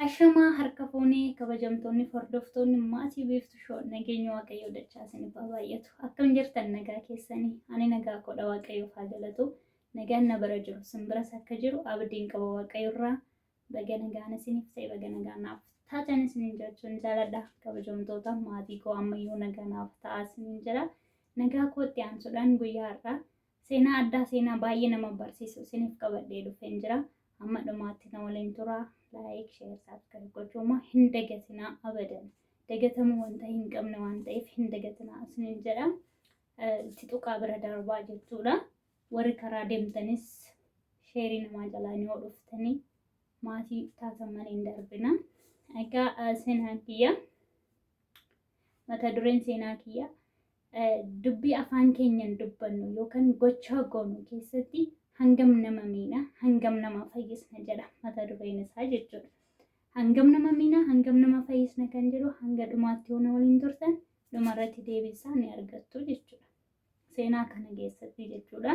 Ashamaa harka fuunee kabajamtoonni hordoftoonni maatii biiftu shoo nageenya waaqayyoo dachaa isiniif haa baay'atu. Akkam jirtan nagaa keessanii? Ani nagaa koodha waaqayyoof haa galatu. Nagaan na bara jiru simbiraas akka jiru abdiin qaba waaqayyoorraa. Baga nagaan isiniif ta'e baga nagaan naaf taatan isiniin jechuun jaaladha. Kabajamtoota maatii koo ammayyuu nagaa naaf ta'a isiniin jira. Nagaa kootti aansuudhaan guyyaa har'aa seenaa addaa seenaa baay'ee nama barsiisu isiniif qabadhee dhufeen jira. Amma dhumaatti na waliin tura. Laayik, sheer, saabskiraayib gochuu immoo hin dagatinaa abadan. Dagatamuu wanta hin qabne waan ta'eef hin dagatinaa isiniin jedha. Itti tuqaa bira darbaa jechuudha. Warri karaa demtanis sheerii namaa jalaani yoo dhuftanii maatii taatan malee hin darbina. Egaa seenaan kiyya mata dureen seenaa kiyya dubbii afaan keenyan dubbannu yookaan gochaa goonu keessatti hangam nama miina hangam nama fayyisna jedha mata dureen isaa jechuudha. Hangam nama miina hangam nama fayyisna kan jedhu hanga dhumaatti yoo na waliin turtan dhumarratti deebisaa ni argattu jechuudha. seenaa kana keessatti jechuudha.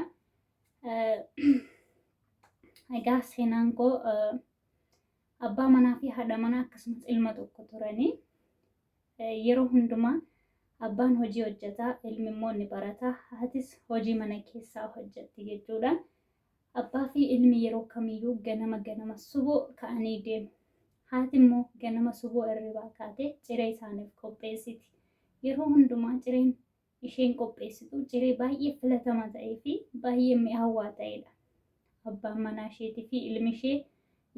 Egaa seenaan koo abbaa manaa fi haadha manaa akkasumas ilma tokko turanii yeroo hundumaa abbaan hojii hojjetaa ilmi immoo ni barata haatis hojii mana keessaa hojjetti jechuudha. Abbaa fi ilmi yeroo kamiyyuu ganama ganama suboo ka'anii deemu. Haati immoo ganama suboo irribaa kaatee ciree isaaniif qopheessiti. Yeroo hundumaa cireen isheen qopheessitu ciree baay'ee filatama ta'ee fi baay'ee mi'aawaa ta'edha. Abbaan manaa isheetii fi ilmi ishee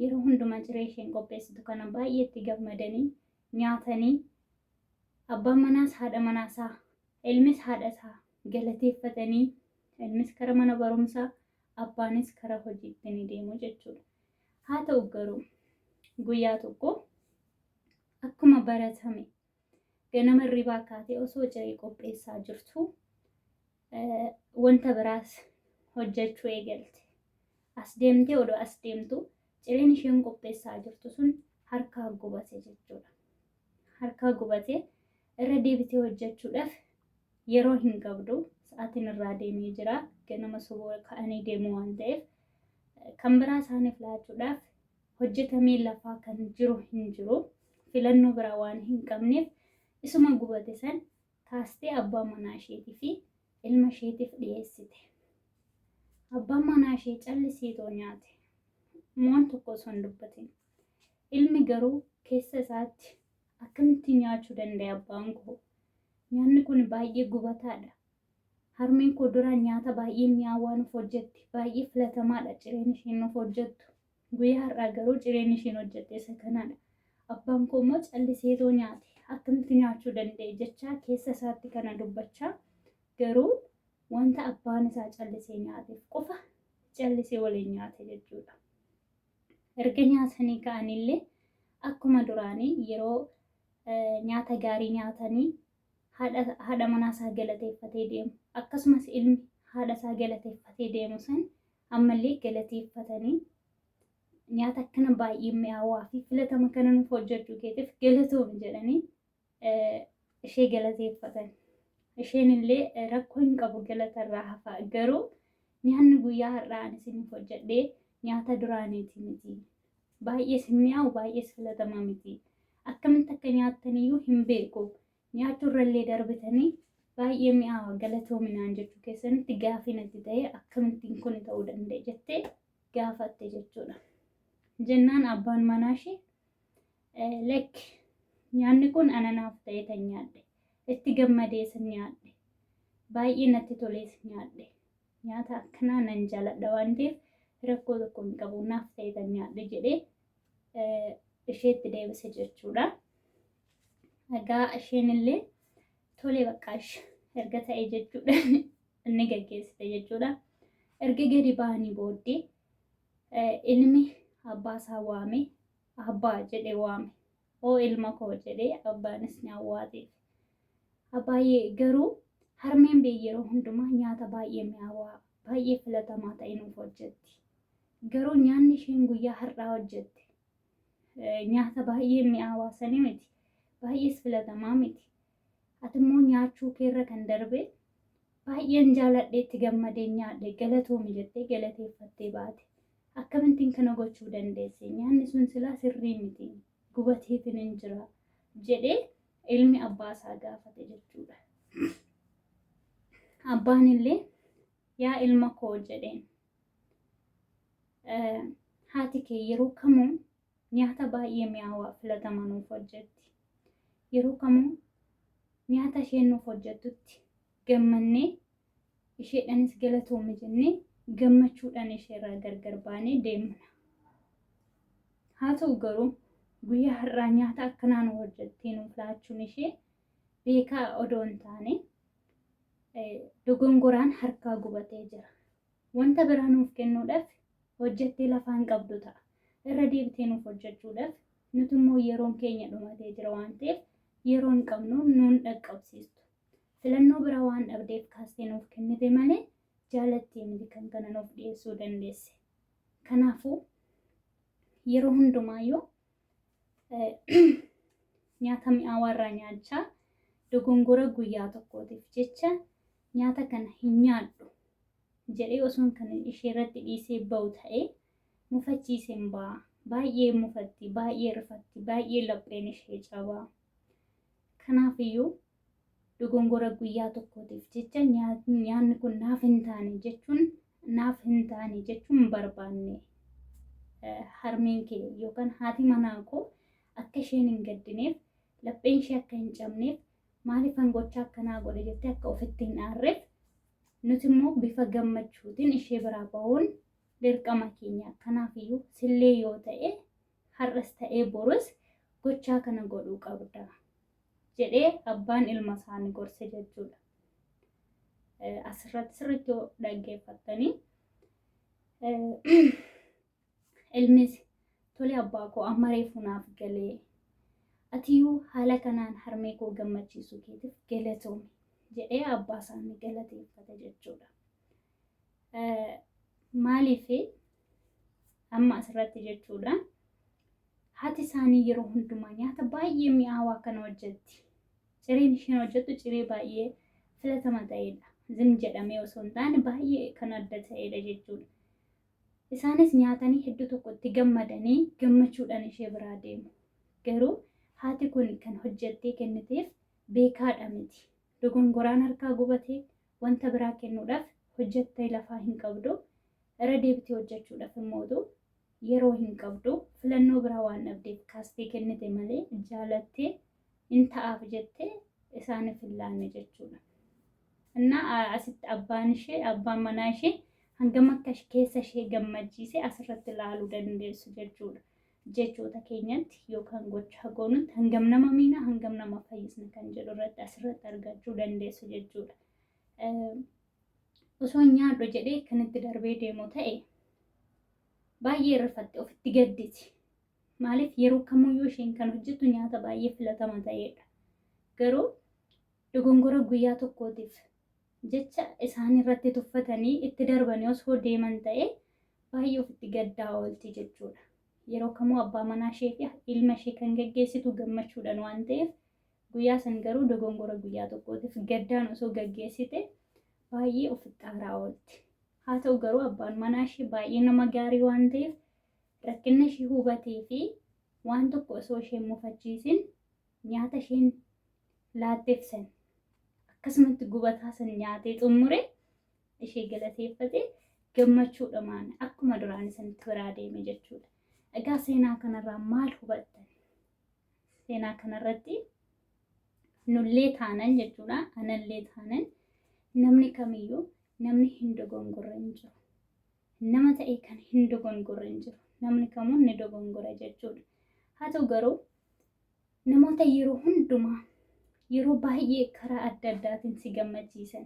yeroo hundumaa ciree isheen qopheessitu kana baay'ee itti gammadanii nyaatanii abbaan manaas haadha manaa isaa ilmis haadha isaa galateeffatanii ilmis kara mana barumsaa abbaanis kara hojiitti ni deemu jechuudha. Haa ta'u garuu guyyaa tokko akkuma baratame Ganama hirribaa kaatee osoo ciree qopheessaa jirtu wanta biraas hojjechuu eegalte. As deemtee odoo as deemtu cireen isheen qopheessaa jirtu sun harkaa gubate jechuudha. Harkaa gubate irra deebitee hojjechuudhaaf yeroo hin qabdu sa'aatiin irraa deemee jira. Ganama soboo ka'anii deemuu waan ta'eef kan biraa isaaniif laachuudhaaf hojjetamee lafaa kan jiru hin jiru. Filannoo biraa waan hin qabneef isuma gubate san kaastee abbaa manaa isheetii fi ilma isheetiif dhiyeessite. Abbaan manaa ishee callisiitoo nyaate. Moon tokko osoo hin dubbatin. Ilmi garuu keessa isaatti akkamitti nyaachuu danda'e abbaan koo? Nyaanni kun baay'ee gubataadha. Harmeen koo duraan nyaata baay'ee mi'aawaa nuuf hojjetti. Baay'ee filatamaadha cireen isheen nuuf hojjettu. Guyyaa har'aa garuu cireen isheen hojjette isa kanaadha. Abbaan koo immoo calliseetoo nyaate. Akkamitti nyaachuu danda'e jechaa keessa isaatti kana dubbachaa garuu wanta abbaan isaa callisee nyaateef qofa callisee waliin nyaate jechuudha. Erga nyaatanii ka'anillee akkuma duraanii yeroo nyaata gaarii nyaatanii haadha manaa isaa galateeffatee deemu. Akkasumas ilmi haadha isaa galateeffatee deemu san ammallee galateeffatanii nyaata akkana baay'ee mi'aawaa fi filatama kana nuuf hojjechuu keetiif galatoomi jedhanii ishee galateeffatan. Isheen illee rakkoo hin qabu galatarraa hafaa garuu nyaanni guyyaa har'aa ani isiniif hojjedhee nyaata duraaniiti miti. Baay'ees hin mi'aawu baay'ees filatama miti. Akkamitti akka nyaattan iyyuu hin beeku. Nyaachuurrallee darbitanii baay'ee mi'aawa galatoomi naan jechuu keessanitti gaafii natti ta'ee akkamittiin kun ta'uu danda'e jettee gaafatte jechuudha. Jennaan abbaan manaa ishee eh, lakki nyaanni kun ananaaf ta'ee tan nyaadhe itti gammadees nyaadhe baay'ee natti tolees nyaadhe nyaata akkanaa nan jaaladha waan ta'eef rakkoo tokko hin qabu naaf ta'ee tan nyaadhe jedhee eh, isheetti deebise jechuudha. Egaa isheen illee tolee baqqaash erga ta'e jechuudha inni gaggeessite jechuudha. Erga gadi ba'anii booddee ilmi abbaa isaa waame abbaa jedhee waame oo ilma koo jedhee abbaanis ni awwaateef. Abbaayee garuu harmeen bee yeroo hundumaa nyaata baay'ee mi'aawaa baay'ee filatamaa ta'e nuuf hojjetti. Garuu nyaanni isheen guyyaa har'aa hojjette nyaata baay'ee mi'aawaa sanii miti. Baay'ees filatamaa miti. Ati immoo nyaachuu keerra kan darbee baay'een jaaladhee itti gammadee nyaadhe galatoomi jettee galateeffattee baate. Akkamittiin kana gochuu dandeesse? Nyaanni sun silaa sirrii miti. Gubateetiin hin jira jedhee ilmi abbaa isaa gaafate jechuudha. Abbaan illee yaa ilma koo jedheen Haati kee yeroo kamuu nyaata baay'ee mi'aawaa filatamaa nuuf hojjetti. Yeroo kamuu nyaata isheen nuuf hojjettutti gammannee isheedhanis galatoomi jennee gammachuudhaan isheerraa gargar baanee deemna. Haa ta'u garuu guyyaa har'aa nyaata akkanaa nu hojjettee nuuf laachuun ishee beekaa odoo hin taane dogongoraan harkaa gubatee jira. Wanta biraa nuuf kennuudhaaf hojjettee lafa hin qabdu ta'a. Irra deebitee nuuf hojjechuudhaaf nuti immoo yeroon keenya dhumatee jira waan ta'eef yeroo hin qabnu nuun dhaqqabsiistu. Filannoo biraa waan dhabdeef kaastee nuuf kennite malee jaalattii miti kan kana nuuf dhiyeessuu dandeesse. Kanaafuu yeroo hundumaayyuu nyaata mi'aawaa irraa nyaachaa dogongora guyyaa tokkootiif jecha nyaata kana hin nyaadhu jedhee osoon kan ishee irratti dhiisee ba'u ta'ee mufachiiseen ba'a. Baay'ee mufatti, baay'ee rifatti, baay'ee lapheen ishee cabaa. Kanaafiyyuu dogongora guyyaa tokkootiif jecha nyaanni kun naaf hin taane jechuun naaf hin taane jechuun barbaanne harmeen kee yookaan haati manaa koo akka isheen hin gaddineef lapheen ishee akka hin cabneef maaliif kan gochaa akkanaa godhe jettee akka ofitti hin aarreef nuti immoo bifa gammachuutiin ishee biraa bahuun dirqama keenya kanaaf iyyuu sillee yoo ta'e har'as ta'ee borus gochaa kana godhuu qabda. jedhee abbaan ilma isaanii gorse jechuudha. Asirratti sirriitti yoo dhaggeeffattanii ilmis tole abbaa koo amma reefu naaf galee atiyyuu haala kanaan harmee koo gammachiisuu keetiif galatoomi jedhee abbaa isaanii galateeffate jechuudha. Maaliif Amma asirratti jechuudha. Haati isaanii yeroo hundumaa nyaata baay'ee mi'aawaa kana hojjetti. Cireen isheen hojjettu ciree baay'ee filatama ta'edha. Zim jedhamee osoo hin taane baay'ee kan adda ta'edha jechuudha. Isaanis nyaatanii hedduu tokko itti gammadanii gammachuudhaan ishee biraa deemu. Garuu haati kun kan hojjettee kenniteef beekaadha miti. Dogongoraan harkaa gubatee wanta biraa kennuudhaaf hojjettee lafaa hin qabdu, irra deebitee hojjechuudhaaf immootu yeroo hin qabdu, filannoo biraa waan dhabdeef kaastee kennite malee jaalattee in ta'aaf jettee isaaniif hin laanne jechuudha. Innaa a- asitti abbaan ishee, abbaan manaa ishee hangam akka ish- keessa ishee gammachiise asirratti ilaaluu dandeessu jechuudha. jechoota keenyatti yookaan gochaa goonutti hangam nama miina hangam nama fayyisna kan jedhu irratti asirratti argachuu dandeessu jechuudha. Osoo nyaadhu jedhee kan itti darbee deemu ta'e baay'ee rifatte ofitti gadditi. Maaliif yeroo kamiyyuu isheen kan hojjettu nyaata baay'ee filatama ta'edha. Garuu dogongora guyyaa tokkootiif jecha isaan irratti tuffatanii itti darbanii osoo deeman ta'e baay'ee ofitti gaddaa oolti jechuudha. Yeroo kamuu abbaa manaa ishee fi ilma ishee kan gaggeessitu gammachuudhaan waan ta'eef guyyaa san garuu dogongora guyyaa tokkootiif gaddaan osoo gaggeessite baay'ee ofitti aaraa oolti. Haa ta'u garuu abbaan manaa ishee baay'ee nama gaarii waan ta'eef rakkina ishee hubatee fi waan tokko osoo ishee mufachiisin nyaata isheen laatteef san akkasumatti gubataa san nyaatee xumure ishee galateeffate gammachuudhamaan akkuma duraan isanitti biraa deeme jechuudha. Egaa seenaa kanarraa maal hubattan? Seenaa kanarratti nullee taanan jechuudha anallee taanan namni kamiyyuu namni hin dogongorre hin jiru. Nama ta'e kan hin dogongorre hin jiru. Namni kamuu ni dogongora jechuudha. Haa ta'u garuu Namoota yeroo hundumaa, yeroo baay'ee karaa adda addaatiin si gammachiisan,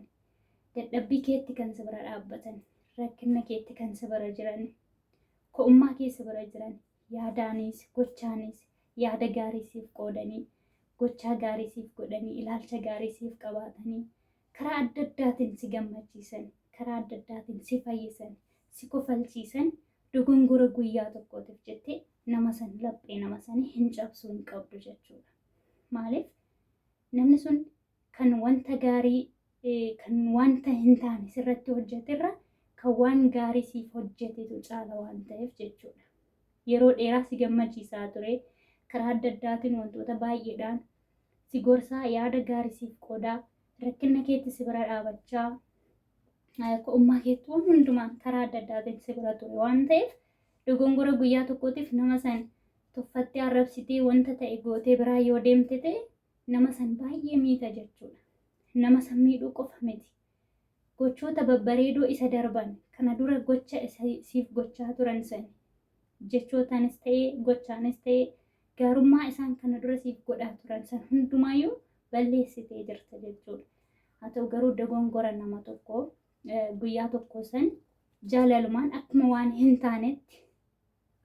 dadhabbii keetti kan si bira dhaabbatan, rakkina keetti kan si bira jiran, ko'ummaa kee si bira jiran, yaadaanis, gochaanis, yaada gaarii siif qoodanii, gochaa gaarii siif godhanii, ilaalcha gaarii siif qabaatanii, karaa adda addaatiin si gammachiisan, karaa adda addaatiin si fayyisan, si kofalchiisan dogongora guyyaa tokkootiif jettee nama san laphee nama sanii hin cabsuu hin qabdu jechuudha. Maaliif namni sun kan wanta gaarii kan wanta hin taane sirratti hojjeterra kan waan gaarii siif hojjetetu caala waan ta'eef jechuudha. Yeroo dheeraa si gammachiisaa ture karaa adda addaatiin wantoota baay'eedhaan si gorsaa, yaada gaari siif qoodaa, rakkinna keetti si bira dhaabachaa, ko'ummaa keetti waan hundumaan karaa adda addaatiin si bira ture waan ta'eef dogongora guyyaa tokkootiif nama san tuffattee arrabsitee wanta ta'e gootee biraa yoo deemte ta'e nama san baay'ee miita jechuudha. Nama san miidhuu qofa miti. Gochoota babbareedoo isa darban, kana dura gocha isa siif gochaa turan sani. Jechootaanis ta'e, gochaanis ta'e, gaarummaa isaan kana dura siif godhaa turan san hundumaayyuu balleessitee jirta jechuudha. Haa ta'u garuu dogongora nama tokkoo guyyaa tokkoo san jaalalumaan akkuma waan hin taanetti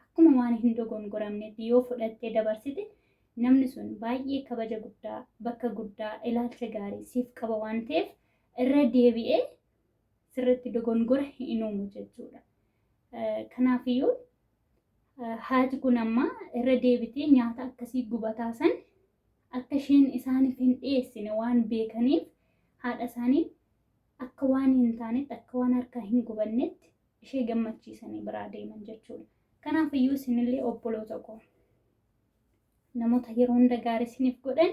akkuma waan hin dogongoramneetti yoo fudhattee dabarsite namni sun baay'ee kabaja guddaa, bakka guddaa, ilaalcha gaarii siif qaba waan ta'eef irra deebi'ee sirratti dogongora hin uumu jechuudha. Kanaafiyyuu haati kun amma irra deebitee nyaata akkasii gubataa san akka isheen isaaniif hin dhiyeessine waan beekaniif haadha isaanii akka waan hin taanetti, akka waan harkaa hin gubannetti ishee gammachiisanii biraa deeman jechuudha. Kanaaf iyyuu isinillee obboloota koo namoota yeroo hunda gaarii isiniif godhan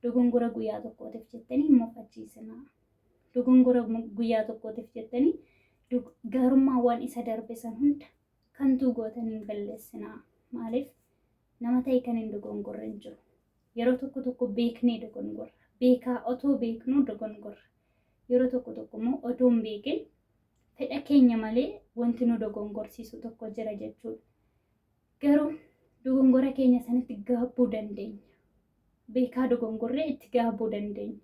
dogongora guyyaa tokkootiif jettanii hin mufachiisinaa. Dogongora guyyaa tokkootiif jettanii gaarummaawwan isa darbe san hunda kantuu gootanii hin balleessinaa. Maaliif nama ta'e kan hin dogongorre hin jiru. Yeroo tokko tokko beeknee dogongorra. Beekaa otoo beeknuu dogongorra. Yeroo tokko tokko immoo otoo hin beekin fedha keenya malee wanti nu dogongorsiisu tokko jira jechuudha. Garuu dogongora keenya sanatti gaabbuu dandeenya. Beekaa dogongorree itti gaabbuu dandeenya.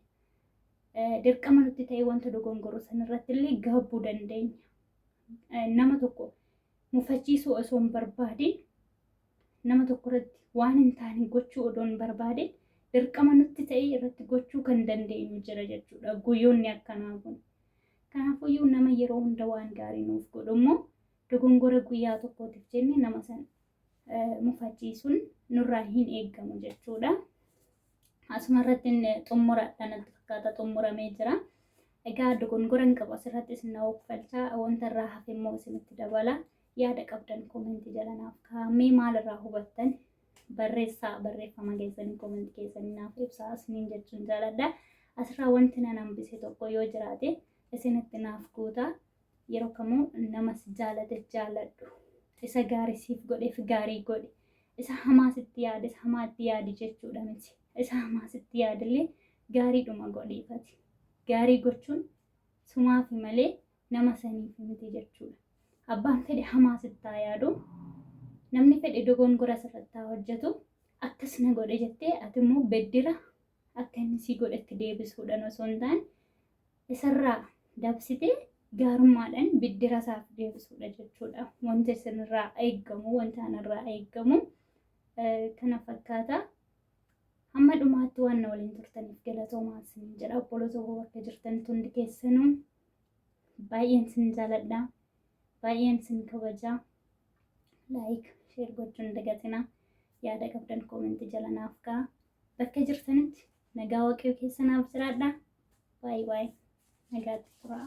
Dirqama nutti ta'e wanta dogongorru sanarratti illee gaabbuu dandeenya. Nama tokko mufachiisuu osoo hin barbaadin nama tokko irratti waan hin taane gochuu odoon barbaadeen dirqama nutti ta'ee irratti gochuu kan dandeenyu jira jechuudha guyyoonni akkanaa kun. Kanaafuyyuu nama yeroo hunda waan gaarii nuuf godhu immoo dogongora guyyaa tokkootiif jenne nama san mufachiisuun nurraa hin eegamu jechuudha. Asuma irratti xumuradha natti fakkaata xumuramee jira. Egaa dogongora hin qabu asirratti isin na hoogfalchaa wanta irraa hafe immoo isinitti dabala. Yaada qabdan komentii jala naaf kaa'aa. Mee maalirraa hubattan? Barreessaa barreeffama keessanii komentii keessanii naaf ibsaa isiniin jechuun jaaladha. Asirraa wanti nan hambise tokko yoo jiraate isinitti naaf guutaa. Yeroo kamuu nama si jaalate jaaladhu. Isa gaarii siif godheef gaarii godhi. Isa hamaa sitti yaade isa hamaa itti yaadi jechuudha miti. Isa hamaa sitti yaadillee gaariidhuma godhiifati. Gaarii gochuun sumaafi malee nama saniif miti jechuudha. Abbaan fedhe hamaa sitti haa yaadu, namni fedhe dogongora sirratti haa hojjetu, akkas na godhe jettee ati immoo beddira akka inni sii godhetti deebisuudhaan osoo hin taane isarraa dabsitee gaarummaadhaan biddira isaaf deebisuudha jechuudha. Wanti isinirraa eeggamu, wanti anarraa eeggamu kana fakkaata. Hamma dhumaatti waan na waliin turtaniif galatoomaa isiniin jedha. Obboloota koo bakka jirtanitti hundi keessanuu Baay'een sin jaaladha. Baay'een sin kabaja. Laayik, sheer gochuun dagatina. Yaada qabdan koomentii jala naaf ka'a. Bakka jirtanitti nagaa waaqayyo keessa naaf jiraadha. Baay'ee baay'ee nagaatti turaa.